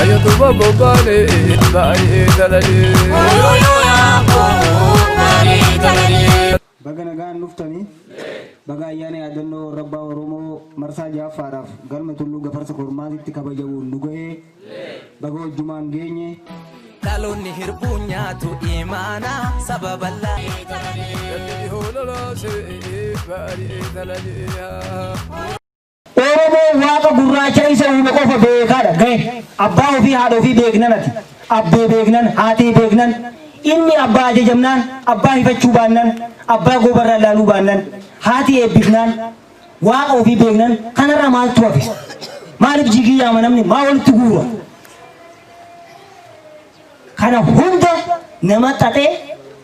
Ayatuma bobane baay'ee dalalee. Baga nagaan dhuftanii baga ayyaana yaadannoo warra abbaa Oromoo marsaa ja'affaadhaaf galma tulluu gafarsa kormaatitti kabajamuun nu ga'ee Baga wajjumaan geenye. Dhaloonni hirbuu nyaatu imaana saba bal'aa. Oromoon waaqa gurraacha isa uume qofa beekaadha gahe abbaa ofii haadha ofii beeknan ati abbee beeknan haatee beeknan inni abbaa ajajamnaan abbaa hifachuu baannan abbaa goobarraa ilaaluu baannan haati eebbifnaan Waaqa ofii beeknan kanarra maaltu hafe? Maaliif jigii yaama namni? Maa walitti guura? Kana hunda nama xaxee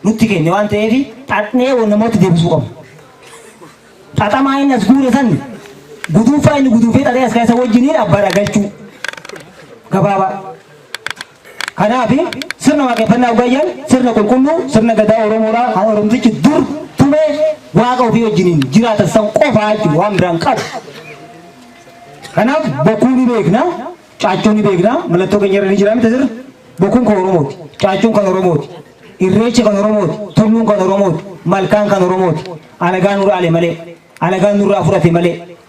nutti kenne waan ta'eef xaxnee wal namoota deebisuu qabna. Xaxamaa inni as guure san guduunfaa inni guduunfee xaxee as kaasa wajjiniin abbaadha galchuu. Gabaabaa. Kanaaf, sirna waaqeffannaa oggaa jennu sirna qulqulluu sirna Gadaa Oromoodhaa kan Oromtichi dur tumee waaqa ofii wajjiniin jiraatan san qofaa jechuudha waan biraa hin qabu. Kanaaf bokkuu ni beekna, caaccuu ni beekna, mallattoo keenya irra ni jira miti sirna. Bokkuun kan Oromooti, caaccuun kan Oromooti, irreechi kan Oromooti, tulluun kan Oromooti, malkaan kan Oromooti. Alagaan nu dhaale malee, alagaan nurraa fudhate malee.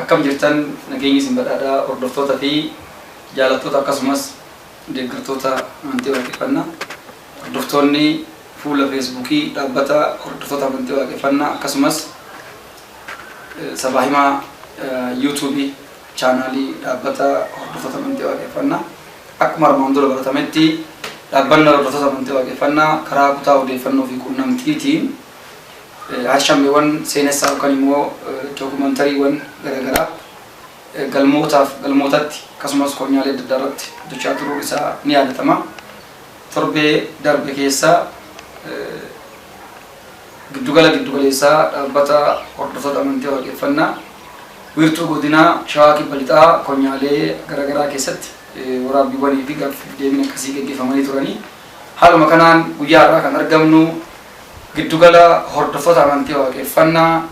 Akkam jirtan nageenyi isin badhaadhaa hordoftoota fi jaalattoota akkasumas deeggartoota amantii waaqeffannaa hordoftoonni fuula feesbuukii dhaabbata hordoftoota amantii waaqeffannaa akkasumas sabaa himaa yuutuubii chaanaalii dhaabbata hordoftoota amantii waaqeffannaa akkuma armaan dura baratametti dhaabbanni hordoftoota amantii waaqeffannaa karaa kutaa odeeffannoo fi quunnamtiitiin Harshammiwwan seenessaa yookan immoo dookumantariiwwan garagaraa galmootaaf galmootatti akkasumas konyaalee adda addaa irratti hojjechaa turuun isaa ni yaadatama. Torbee darbe keessa giddugala giddugaleessaa dhaabbata hordoftoota amantii waaqeffannaa wiirtuu godinaa Shawaa Kibba Lixaa konyaalee garagaraa keessatti waraabbiiwwanii fi gaaffiif deebiin akkasii geggeeffamanii turanii haaluma kanaan guyyaa har'aa kan argamnu Giddugala Hordoftoota Amantii Waaqeffannaa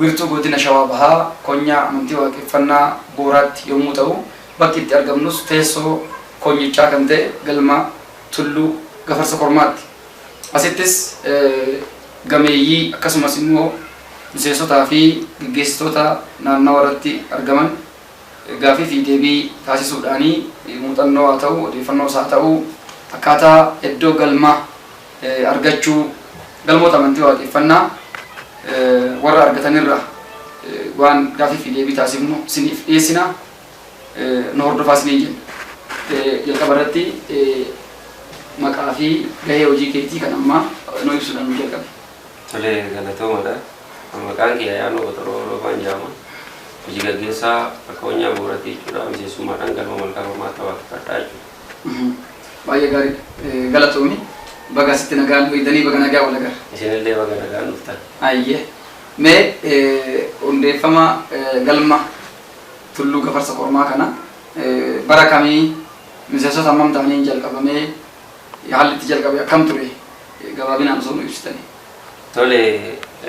Wiirtuu Godina Shawaa Bahaa Konyaa Amantii Waaqeffannaa Booraatti yommuu ta'u, bakki itti argamnus teessoo konyichaa kan ta'e Galma Tulluu Gafarsa Kormaatti. Asittis gameeyyii akkasumas immoo miseensotaa fi geggeessitoota naannawa irratti argaman gaaffii fi deebii taasisuudhaani muuxannoo haa ta'u, odeeffannoos haa ta'u akkaataa eddoo galma. argachuu, galmoota amantii waaqeffannaa warra argatan irraa waan gaafii fi deebii taasifnu isiniif dhiyeessina. Nu hordofaa isiniin jenna. Jalqaba irratti maqaa fi gahee hojii keetii kan ammaa nu ibsuudhaan nu jalqabe. Tolee, galatoomadha. Maqaan kiyya Yaanoo Botoroo Roobaan jedhama. Hojii gaggeessaa akka Onyaa Bu'uuraatti jechuudha. Miseensummaadhaan galma Malkaa Kormaatti waaqeffadha jechuudha. Baay'ee gaariidha. Galatoomi. Baga asitti nagaan dhuftanii baga nagaa wal agarre. Isinillee baga nagaan dhuftan. Ayyee. Mee hundeeffama galma Tulluu Gafarsa Kormaa kana bara kamii miseensota hammam ta'aniin jalqabamee haalli itti jalqabe akkam ture gabaabinaan osoo nu ibsitanii. Tole,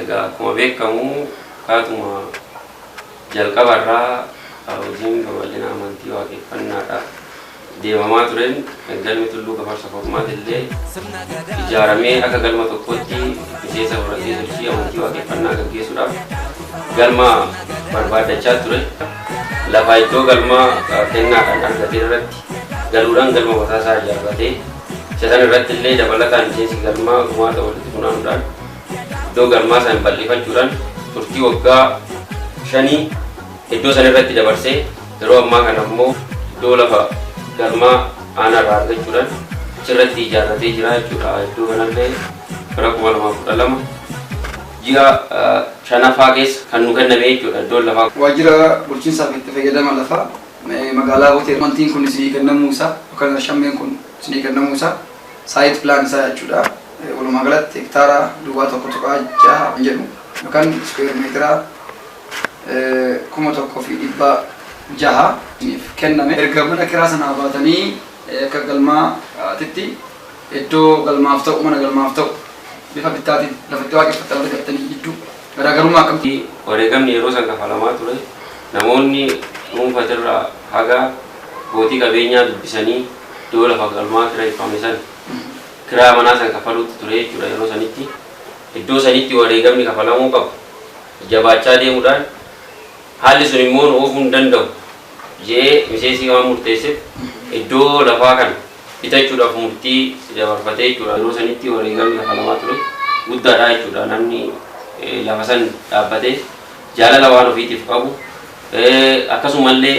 egaa akkuma beekkamu akkaatuma jalqaba irraa hojiin babal'ina amantii Waaqeffannaadhaaf deemamaa tureen Galmi Tulluu Gafarsa Kormaat illee ijaaramee akka galma tokkootti miseensa horatee sochii amantii Waaqeffannaa gaggeessuudhaaf galma barbaaddachaa ture. Lafa iddoo galmaa kennaadhaan argate irratti galuudhaan galma mataa isaa ijaarratee Isa kana irratti illee dabalataan miseensi galmaa gumaata walitti funaanuudhaan iddoo galmaa san bal'ifachuudhaan turtii waggaa shanii iddoo san irratti dabarsee yeroo ammaa kana immoo iddoo lafa galmaa aanaa irraa argachuudhaan achirratti ijaarratee jira jechuudha. Iddoo kanallee bara 2012 ji'a shanaffaa keessa kan nu kenname jechuudha iddoon lafaa. Waajjira bulchiinsaa fi itti fayyadama lafaa. Magaalaa Utee mantiin kun isinii kennamuu isaa yookaan shammeen kun isinii kennamuu isaa site plan isaa jechuudha. Walumaa galatti hektaara duwwaa 1.6 kan jedhu yookaan square meetira 1600 isiniif kenname. Erga mana kiraa sanaa baatanii akka galmaatitti iddoo galmaaf ta'u, mana galmaaf ta'u bifa bittaatiin lafa itti waaqeffattan argattanii jidduu. Garaagarummaa akkamitti? Wareegamni yeroo san kafalamaa ture namoonni dhuunfatirraa haga abbootii qabeenyaa dubbisanii iddoo lafa galmaa kireeffame san kiraa manaa san kafaluutti ture jechuudha yeroo sanitti. Iddoo sanitti wareegamni kafalamuu qabu jabaachaa deemuudhaan haalli sun immoo nu oofuu hin danda'u je'ee miseesii waan murteessef iddoo lafaa kana. bitachuudhaaf murtii dabarfatee jechuudha. Yeroo sanitti wareegamni kafalamaa ture guddaadha jechuudha. Namni lafa san dhaabbatee jaalala waan ofiitiif qabu akkasumallee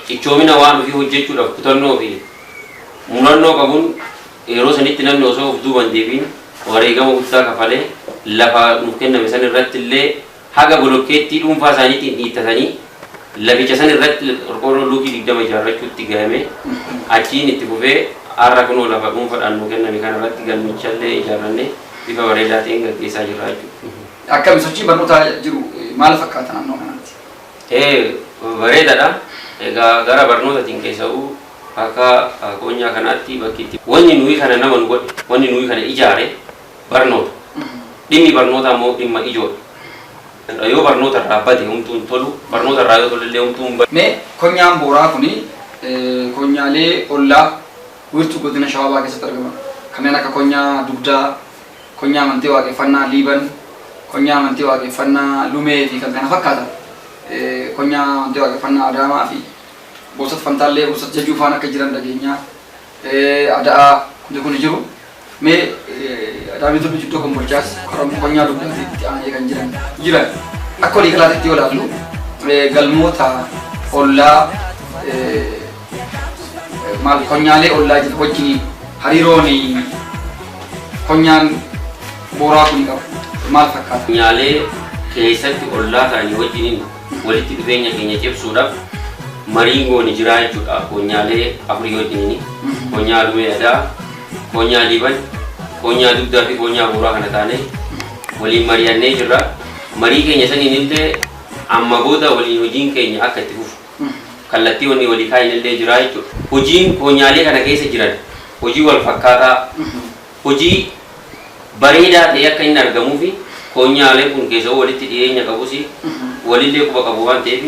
cichoomina waan ofii hojjechuudhaaf kutannoo fi murannoo qabuun yeroo sanitti namni osoo of duuban deebiin wareegama guddaa kafalee lafa nuuf kenname san irratti illee haga bolokkeettii dhuunfaa isaaniitiin dhiittatanii laficha san irratti qorqoorroo luukii 20 ijaarrachuutti gayame. Achiin itti fufee har'a kunoo lafa dhuunfadhaan nuu kenname kana irratti galmichallee ijaarranne bifa bareedaa ta'een gaggeessaa jirra jechuudha. Akkami sochiin barnootaa jiru maal fakkaata naannoo kanatti? Ee bareedadha. Egaa gara barnootatiin keessa'uu akka koonyaa kanaatti bakki itti. Wanni nuyi kana nama nu godhe, wanni nuyi kana ijaare Barnoota. Dhimmi barnootaa immoo dhimma ijoodha. Yoo barnoota irraa bade homtuu hin tolu, barnoota irraa yoo tolellee homtuu hin badu. Mee konyaan Booraa kuni konyaalee ollaa wiirtuu godina Shawaa Bahaa keessatti argaman kanneen akka konyaa Dugdaa, konyaa amantii Waaqeffannaa Liiban, konyaa amantii Waaqeffannaa Lumee fi kan kana fakkaatan konyaa amantii Waaqeffannaa Adaamaa fi Boosat Fantaallee, Boosat Jajuu faan akka jiran dhageenya. Ada'aa hundi kuni jiru. Mee dhaabbilee gurguddoo kan bulchaas qoramni qonnaa dugdaa fi itti aanee kan jiran jiran akka walii galaatti yoo ilaallu galmoota ollaa maal qonnaalee ollaa jiru wajjin hariiroon qonnaan booraa kun qabu maal fakkaata? Qonnaalee keessatti ollaa ta'anii wajjiniin Walitti dhufeenya keenya cimsuudhaaf marii goone jiraa jechuudha. Koonyaalee afurii wajjin koonyaa alumee adaa, koonyaa liiban, koonyaa dugdaa fi koonyaa buuraa kana taane waliin mari'annee jirra. Marii keenya saniin illee amma booda waliin hojiin keenya akka itti fufu kallattii wanni walii kaa'in illee jiraa jechuudha. Hojiin koonyaalee kana keessa jiran hojii wal fakkaataa Hojii bareedaa ta'ee akka inni argamuuf koonyaaleen kun keessawuu walitti dhiyeenya qabus walillee quba qabu waan ta'eef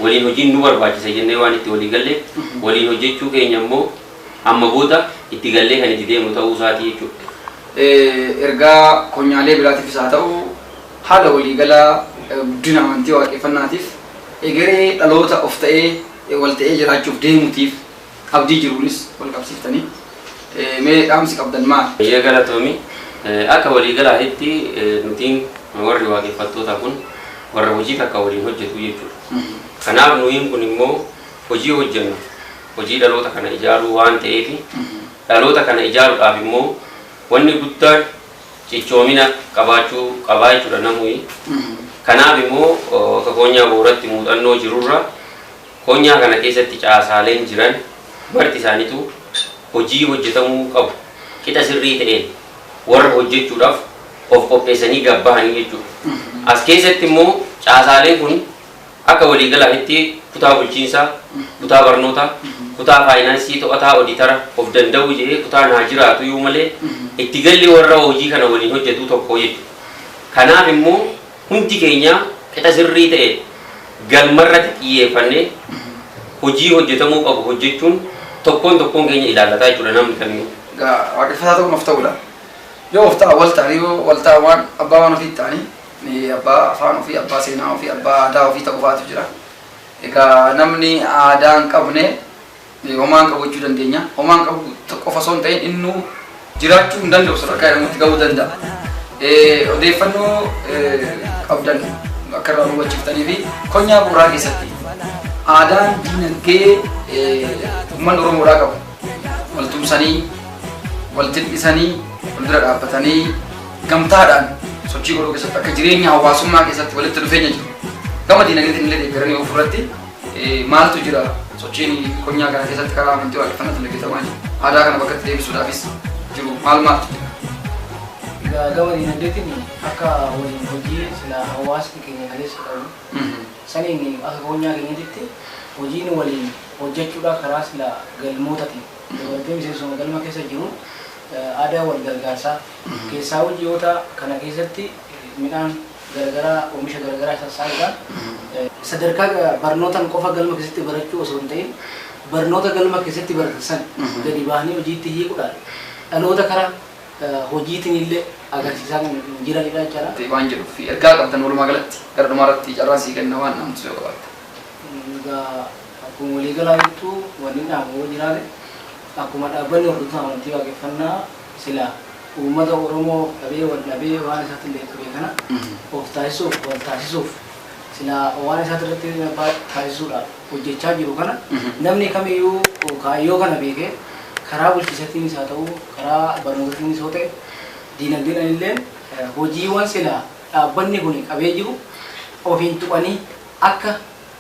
waliin hojiin nu barbaachisa jennee waan itti walii galleef waliin hojjechuu keenya immoo amma booda itti gallee kan itti deemnu ta'uu isaatii jechuudha. Ergaa koonyaalee biraatiifis haa ta'u haala walii galaa guddina amantii waaqeffannaatiif egeree dhaloota of ta'ee wal ta'ee jiraachuuf deemutiif, Abdii jiruunis wal qabsiiftanii mee dhaamsi qabdan maal? Bayyee galatoomi. Akka walii galaahitti nutiin warri waaqeffattootaa kun warra hojii takka waliin hojjetuu jechuudha. Kanaaf nuyiin kun immoo hojii hojjennu hojii dhaloota kana ijaaruu waan ta'eefi dhaloota kana ijaarudhaaf immoo wanni guddaan cichoomina qabaachuu qabaa jechuudha namuyi. Kanaaf immoo akka koonyaa booratti muuxannoo jirurra. Konyaa kana keessatti caasaaleen jiran marti isaanituu hojii hojjetamuu qabu qixa sirrii ta'een warra hojjechuudhaaf of qopheessanii gad bahanii jechuudha. As keessatti immoo caasaaleen kun akka waliigalaatitti kutaa bulchiinsaa, kutaa barnootaa, kutaa faayinaansii, to'ataa, oditara, of danda'uu jedhee kutaan haa jiraatuyuu malee itti galli warra hojii kana waliin hojjetuu tokkoo jechuudha. Kanaaf immoo. Hundi keenya qixa sirrii ta'e galmarratti xiyyeeffannee hojii hojjetamuu qabu hojjechuun tokkoon tokkoon keenya ilaallata jechuudha namni kamiyyuu. Egaa waaqeffataa ta'uun of ta'uudha. Yoo of ta'an wal ta'anii yoo wal ta'an waan abbaa waan ofii ta'anii abbaa afaan ofii, abbaa seenaa ofii, abbaa aadaa ofii ta'uufaatu jira. Egaa namni aadaa hin qabne. Homaa hin qabu jechuu dandeenya. Homaa hin qabu qofa osoo hin ta'in innuu jiraachuu hin danda'u sadarkaa jedhamutti ga'uu danda'a. Odeeffannoo qabdan akka irraa hubachiiftanii fi konyaa bu'uuraa keessatti aadaan diinagdee uummanni Oromoodhaa qabu wal tumsanii wal jil'isanii wal bira dhaabbatanii gamtaadhaan sochii godhuu keessatti akka jireenya hawaasummaa keessatti walitti dhufeenya jiru. Gama diinagdeetiin illee deeggaranii ofirratti maaltu jira sochiin konyaa kana keessatti karaa amantii waaqeffannaa dalagatamaa jiru aadaa kana bakkatti deebisuudhaafis jiru maal maaltu jira. Egaa gama dinagdeetiin akka waliin hojii sila hawaasni keenya galeessa qabu saniin akka konyaa keenyatti hojiin waliin hojjechuudha karaa sila galmootaatiin dabalatee miseensuma galma keessa jiru aadaa wal gargaarsaa keessaa hojjiyoota kana keessatti midhaan garagaraa omisha garagaraa isa saaqudha. Sadarkaa barnootan qofa galma keessatti barachuu osoo hin ta'in barnoota galma keessatti baratan san gadi bahanii hojiitti hiikudhaan dhaloota kara hojiitinille agarsiisaa kan jiranidha jechaadha. waan jedhuuf ergaa qabdan walumaa galatti gara dhumaa irratti carraan sii kenna waan dhaamtu yoo qabaatte. Egaa akkuma walii galaa jirtu wannin dhaamu yoo jiraate akkuma dhaabbanni hordoftoota amantii waaqeffannaa Silaa uummata Oromoo dhabee wal dhabee waan isaatti hin dheekkamne kana of taasisuuf, wal taasisuuf, silaa waan isaatti irratti abbaa taasisuudhaaf hojjechaa jiru kana namni kamiyyuu kaayyoo kana beekee karaa bulchiisatiinis haa ta'uu, karaa barnootatiinis yoo ta'e, diinagdeedhaan illeen hojiiwwan silaa dhaabbanni kuni qabee jiru ofiin tuqanii akka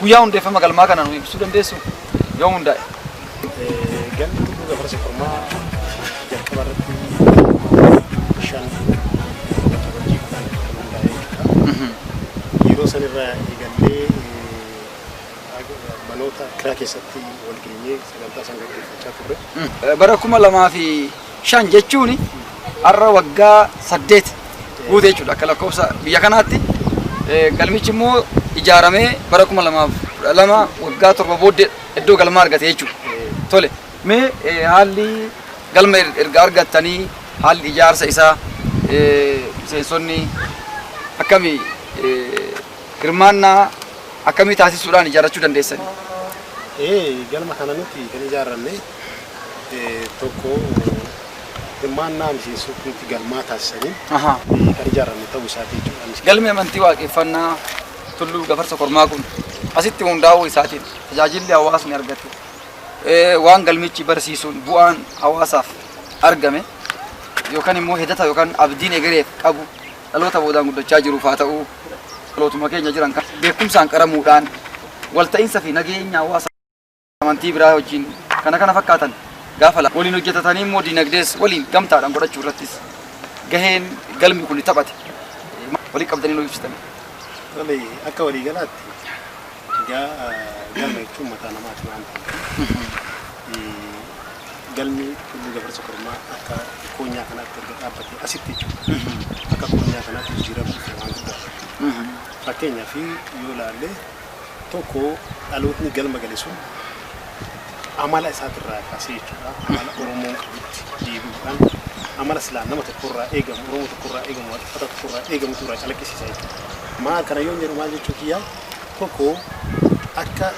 Guyyaa hundeeffama galmaa kana nu ibsuu dandeessuu? Yoom hundaa'e? Galmi Tulluu Gafarsa Kormaa jalqaba irratti shan waltajjii kudhan kan hundaa'e jechuudha. Yeroo san irraa eegallee manoota kiraa keessatti wal geenyee sagantaa san gaggeeffachaa turre. Bara kuma lamaa fi 5 jechuun har'a waggaa 8 guute jechuudha akka lakkoofsa biyya kanaatti. Galmichi immoo ijaaramee bara 2012 waggaa 7 booddee iddoo galmaa argate jechuudha. Tole mee haalli galma erga argattanii haalli ijaarsa isaa miseensonni akkamii hirmaannaa akkamii taasisuudhaan ijaarrachuu dandeessanii? Ee galma kana nuti kan ijaarranne eh, tokko hirmaannaa miseensota nuti galmaa taasisaniin Ahaa. eh, kan ijaarame ta'uu isaati jechuudha. Galmi amantii waaqeffannaa tulluu gafarsa kormaa kun asitti hundaa'uu isaatiin tajaajilli hawaasni argate eh, waan galmichi barsiisuun bu'aan hawaasaaf argame yookaan immoo hidhata yookaan abdiin egereef qabu dhaloota boodaan guddachaa jiruuf haa ta'u dhalootuma keenya jiran kan beekumsaan qaramuudhaan walta'iinsa fi nageenya hawaasaa amantii biraa wajjin kana kana fakkaatan gaafa lama waliin hojjetatanii immoo dinagdees waliin gamtaadhaan godhachuu irrattis gaheen galmi kun taphate walii qabdanii nu ibsitan. Tole akka walii galaatti egaa galma jechuun mataa namaati waan ta'eef galmi tulluu gafarsa kormaa akka koonyaa kanaatti erga dhaabbatee asitti jechuudha. Akka koonyaa kanaatti jijjiirama dhufe waan guddaa. Fakkeenyaaf yoo ilaalle tokko dhalootni galma gale sun amala isaatirraa kaasee jechuudha amala oromoon qabutti deebi'uudhaan amala silaa nama tokkorraa eegamu oromoo tokkorraa eegamu waaqeffata tokkorraa eegamu irraa calaqqisiisa jechuudha. Maa kana yoon jedhu maal jechuu kiyyaa tokko akka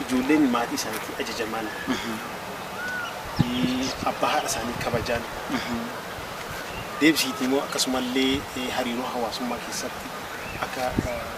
ijoolleen maatii isaaniitti ajajamaan abbaa haadha isaanii kabajaan deebisiitii immoo akkasumallee hariiroo hawaasummaa keessatti akka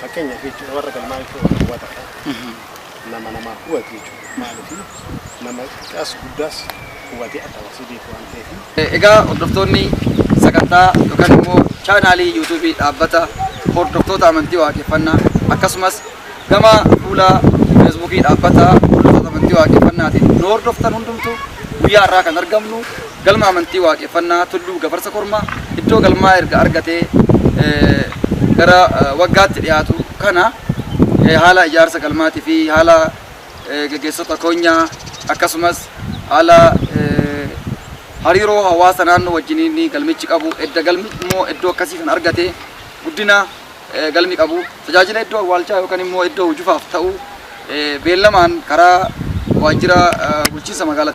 Fakkeenyaaf jechuudha warra galmaa jechuun warra huwataadha. Nama namaa huwatu jechuudha. Maaliif nama xiqqaas guddaas huwatee adda baasee beeku waan ta'eef. Egaa hordoftoonni sagantaa yookaan immoo chaanaalii yuutuubii dhaabbata hordoftoota amantii waaqeffannaa akkasumas gama fuula feesbuukii dhaabbata hordoftoota amantii waaqeffannaatiin nu hordoftan hundumtuu guyyaa irraa kan argamnu Galma Amantii Waaqeffannaa Tulluu Gafarsa Kormaa iddoo galmaa erga argatee gara waggaatti dhiyaatu kana haala ijaarsa galmaatii fi haala gaggeessota konyaa akkasumas haala hariiroo hawaasa naannoo wajjiniin galmichi qabu edda galmi immoo iddoo akkasii kan argate guddina galmi qabu tajaajila iddoo awwaalchaa yookaan immoo iddoo hujufaaf ta'u beellamaan karaa waajjira bulchiinsa magaalaa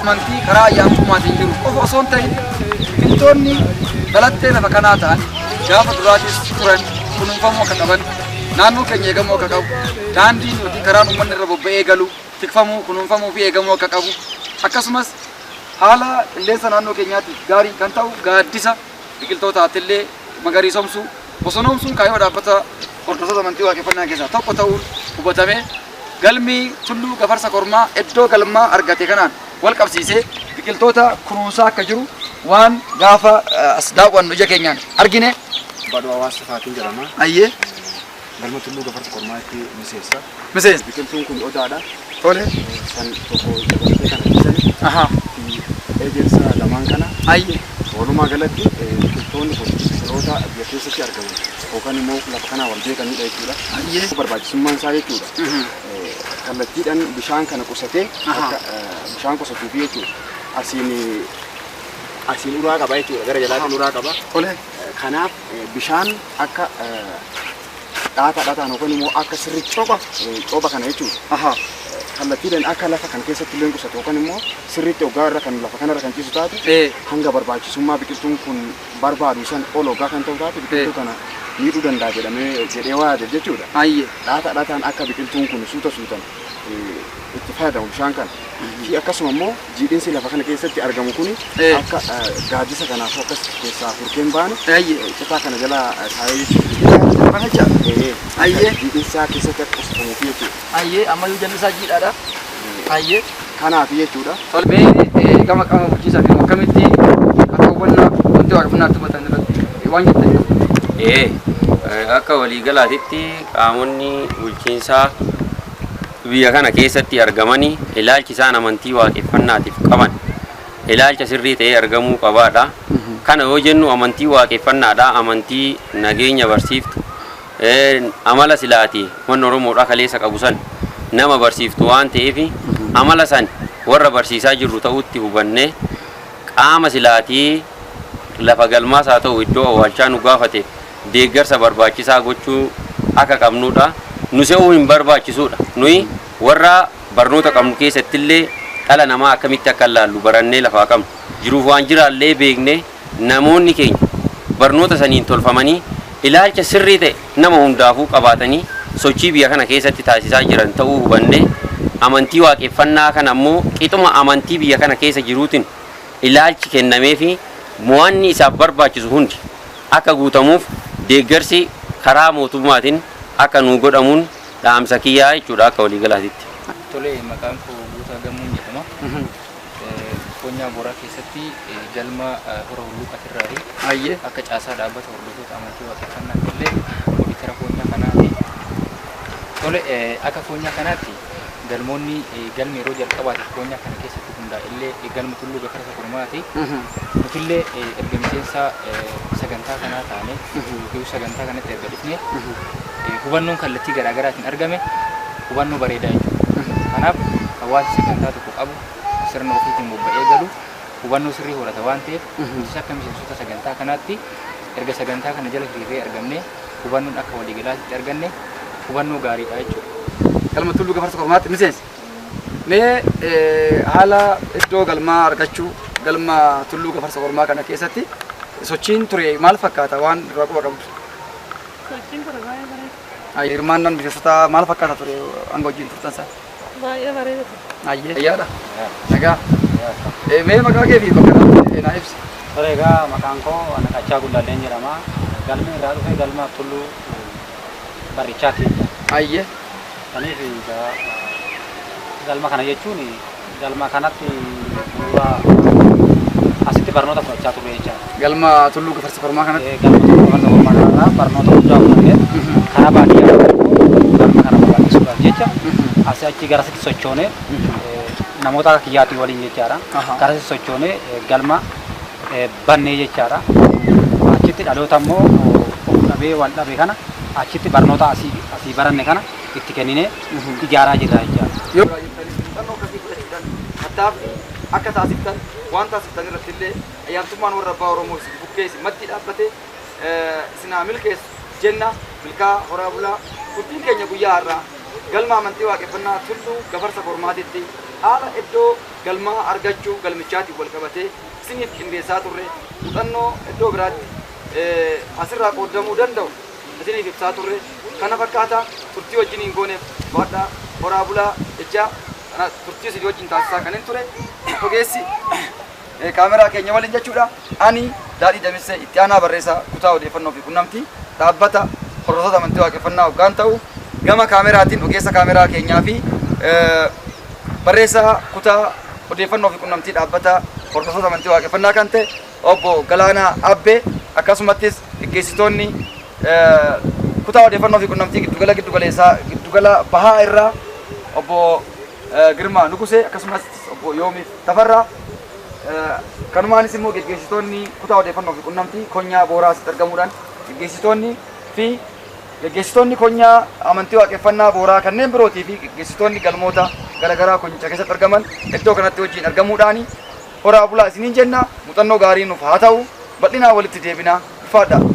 amantii karaa ayyaantummaatiin jiru qofa osoo hin ta'in biqiltoonni balattee lafa kanaa ta'an gaafa duraatis turan kunuunfamuu akka qaban naannoo keenya eegamuu akka qabu daandiin yookiin karaan uummanni irra bobba'ee galu tikfamuu kunuunfamuu fi eegamuu akka qabu akkasumas haala qilleensa naannoo keenyaatiif gaarii kan ta'u gaaddisa biqiltootaattillee magariisomsuu bosonoomsuun kaayyoo dhaabbata hordoftoota amantii waaqeffannaa keessaa tokko ta'uun hubatamee Galmi Tulluu Gafarsa Kormaa iddoo galmaa argate kanaan walqabsiisee biqiltoota kunuunsaa akka jiru waan gaafa as daawwannu ija keenyaan argine. Badhoo Hawaas Tufaatiin jedhama. Ayyee. Galma Tulluu Gafarsa Kormaatti miseensa. Miseensa. Biqiltuun kun odaadha. Tole. San tokko dabalatee kana dhiisani. Aha. Ejersa lamaan kana. Ayyee. Walumaa galatti biqiltoonni kun biqiloota biyya keessatti argaman. yookaan immoo lafa kanaa wal beekanidha jechuudha. Baay'ee. Barbaachisummaan isaa jechuudha. Eh, Kallattiidhaan bishaan kana qusatee Aha. akka, eh, bishaan qusatuufi jechuudha. Asiin eh, asiin uraa qaba jechuudha. Gara jalaatiin Aha. uraa qaba. Tole. Eh, Kanaaf eh, bishaan akka eh, dhaata dhaataan yookaan immoo akka sirri copha eh, copha kana jechuudha. Aha. kallattiidhaan akka lafa kana keessatti illee qusatu yookaan immoo sirriitti hoggaa irra kan lafa kanarra kan ciisu taate Eh. hanga barbaachisummaa biqiltuun kun barbaadu san ol hoggaa kan ta'u taate biqiltuu kana miidhuu danda'a jedhamee jedhee waa yaadeef jechuudha. Ayyee. Dhaata dhataan akka biqiltuun kun suuta suutan itti fayyadamu bishaan kana fi akkasuma immoo jiidhinsi lafa kana keessatti argamu kun akka gaaddisa kanaaf akkas keessaa furkeen baane citaa kana jala taa'ee jechuudha. Ayyee. Jiidhinsaa keessatti akka qusatamuuf jechuudha. Hayyee ammayyuu jallisaa jiidhaadha. Hayyee. Kanaaf jechuudha. Tole mee eh, gama qaama bulchiinsaa fi akkamitti akka hubannaa wanti waaqeffannaa itti hubatan irratti waan jettan qabdu. Ee, eh, akka waliigalaatitti qaamonni bulchiinsaa biyya kana keessatti argamanii ilaalchi isaan amantii waaqeffannaatiif qaban ilaalcha sirrii ta'ee argamuu qabaadha. Kana yoo jennu amantii waaqeffannaadha, amantii nageenya barsiiftu, Amala sila ati wanni Oromoodhaa kaleessa qabu san nama barsiiftu waan ta'eefi amala san warra barsiisaa jirru ta'uutti hubannee qaama sila ati lafa galmaas haa ta'u iddoo awwaalchaa nu gaafateef deeggarsa barbaachisaa gochuu akka qabnuudha. Nu se'uu hin barbaachisuudha. Nuyi warra barnoota qabnu keessattillee dhala namaa akkamitti akka laallu barannee lafaa qabnu. Jiruuf waan jiraallee beeknee. Namoonni keenya barnoota saniin tolfamanii ilaalcha sirrii ta'e nama hundaafuu qabaatanii sochii biyya kana keessatti taasisaa jiran ta'uu hubannee amantii waaqeffannaa kana immoo qixuma amantii biyya kana keessa jiruutin ilaalchi kennameefii mo'anni isaaf barbaachisu hundi akka guutamuuf deeggarsi karaa mootummaatin akka nuu godhamuun dhaamsa kiyyaa jechuudha akka waliigalaatitti. Tole, maqaan koo Guutaa Gammoon jedhama. Koonyaa Booraa keessatti galma Hora Hulluuqatirraayi. Hayyee. Akka caasaa dhaabbata hordoftoota amantii waaqeffannaatti illee oditara koonyaa kanaati. Tole, akka koonyaa kanaatti galmoonni galmi yeroo jalqabaatiif koonyaa kana keessatti hundaa'e illee galma Tulluu Gafarsa Kurmaati. Nuti illee erga miseensa sagantaa kanaa taane yookiin sagantaa kanatti erga dhufne hubannoon kallattii garaa garaatiin argame hubannoo bareedaa jechuudha. Kanaaf hawaasi sagantaa tokko tokko qabu sirna ofiitiin bobba'ee galu hubannoo sirrii horata waan ta'eef nutis akka miseensota sagantaa kanaatti erga sagantaa kana jala hiriirree argamne hubannoon akka waliigalaatti arganne hubannoo gaariidha jechuudha. Galma Tulluu Gafarsa Kormaatti miseensi. Mee eh, haala iddoo galmaa argachuu galma Tulluu Gafarsa Kormaa kana keessatti sochiin ture maal fakkaata waan irraa quba qabdu? Sochiin ture baay'ee bareeda. Hirmaannaan miseensotaa maal fakkaata ture hanga wajjin turtan sana? Baay'ee bareeda ture. Ayyee. Ayyaadha. Nagaa. Eh, Mee maqaa kee fi bakka dhaabbii eh, naa ibsi. Ture egaa maqaan koo Anaqachaa Gullalleen jedhama. Galma irraa dhufe galma Tulluu Barrichaati. Ayyee. Saniif egaa galma kana jechuun galma kanatti bu'uura asitti barnoota fudhachaa turre jechaadha. Galma Tulluu Gafarsa Kormaa kanatti. Galma Tulluu Gafarsa Kormaa kanarraa barnoota guddaa fudhannee karaa baadiyyaa galma kana babal'isuudhaaf jecha asii achi gara sitti sochoonee namoota akka kiyyaatii waliin jechaadha. Gara sitti sochoonee galma bannee jechaadha. Achitti dhaloota immoo of dhabee wal dhabe kana achitti barnoota asii asii baranne kana itti kenninee ijaaraa jirra jechaadha. Muuxannoo akkasii fudhachuudhaan tattaaffii akka taasiftan waan taasiftan irratti illee Ayyaantummaan warra abbaa Oromoo isin bukkee isin mattii dhaabbate isin haa milkeessu jenna. Milkaa'aa horaa bulaa. Turtiin keenya guyyaa har'aa galma amantii waaqeffannaa Tulluu Gafarsa Kormaatitti haala iddoo galmaa argachuu galmichaatiin wal qabatee isiniif qindeessaa turre muuxannoo iddoo biraatti asirraa qooddamuu danda'u isiniif ibsaa turre kana fakkaata turtii wajjiniin gooneef waadhaa horaa bulaa jechaa turtii isin wajjin taasisaa kanin ture ogeessi eh, kaameraa keenya waliin jechuudha. Ani Daadhii Damissee itti aanaa barreessaa kutaa odeeffannoo fi qunnamtii dhaabbata hordoftoota amantii waaqeffannaa hoggaan ta'u gama kaameraatiin ogeessa kaameraa keenyaa fi eh, barreessaa kutaa odeeffannoo fi qunnamtii dhaabbata hordoftoota amantii waaqeffannaa kan ta'e obbo Galaanaa Abbee akkasumattis geggeessitoonni eh, kutaa odeeffannoo fi qunnamtii giddugala giddugaleessaa giddugala bahaa irraa obbo Girmaa Nugusee akkasumas Obbo Yoomiif Tafarraa kanumaanis immoo geggeessitoonni kutaa odeeffannoo fi qunnamtii konyaa booraa asitti argamuudhaan geggeessitoonni fi geggeessitoonni konyaa amantii waaqeffannaa booraa kanneen birootii fi geggeessitoonni galmoota garaagaraa konyicha keessatti argaman iddoo kanatti wajjin argamuudhaan horaa bulaa isiniin jenna muuxannoo gaarii nuuf haa ta'u bal'inaa walitti deebina ulfaadhaa.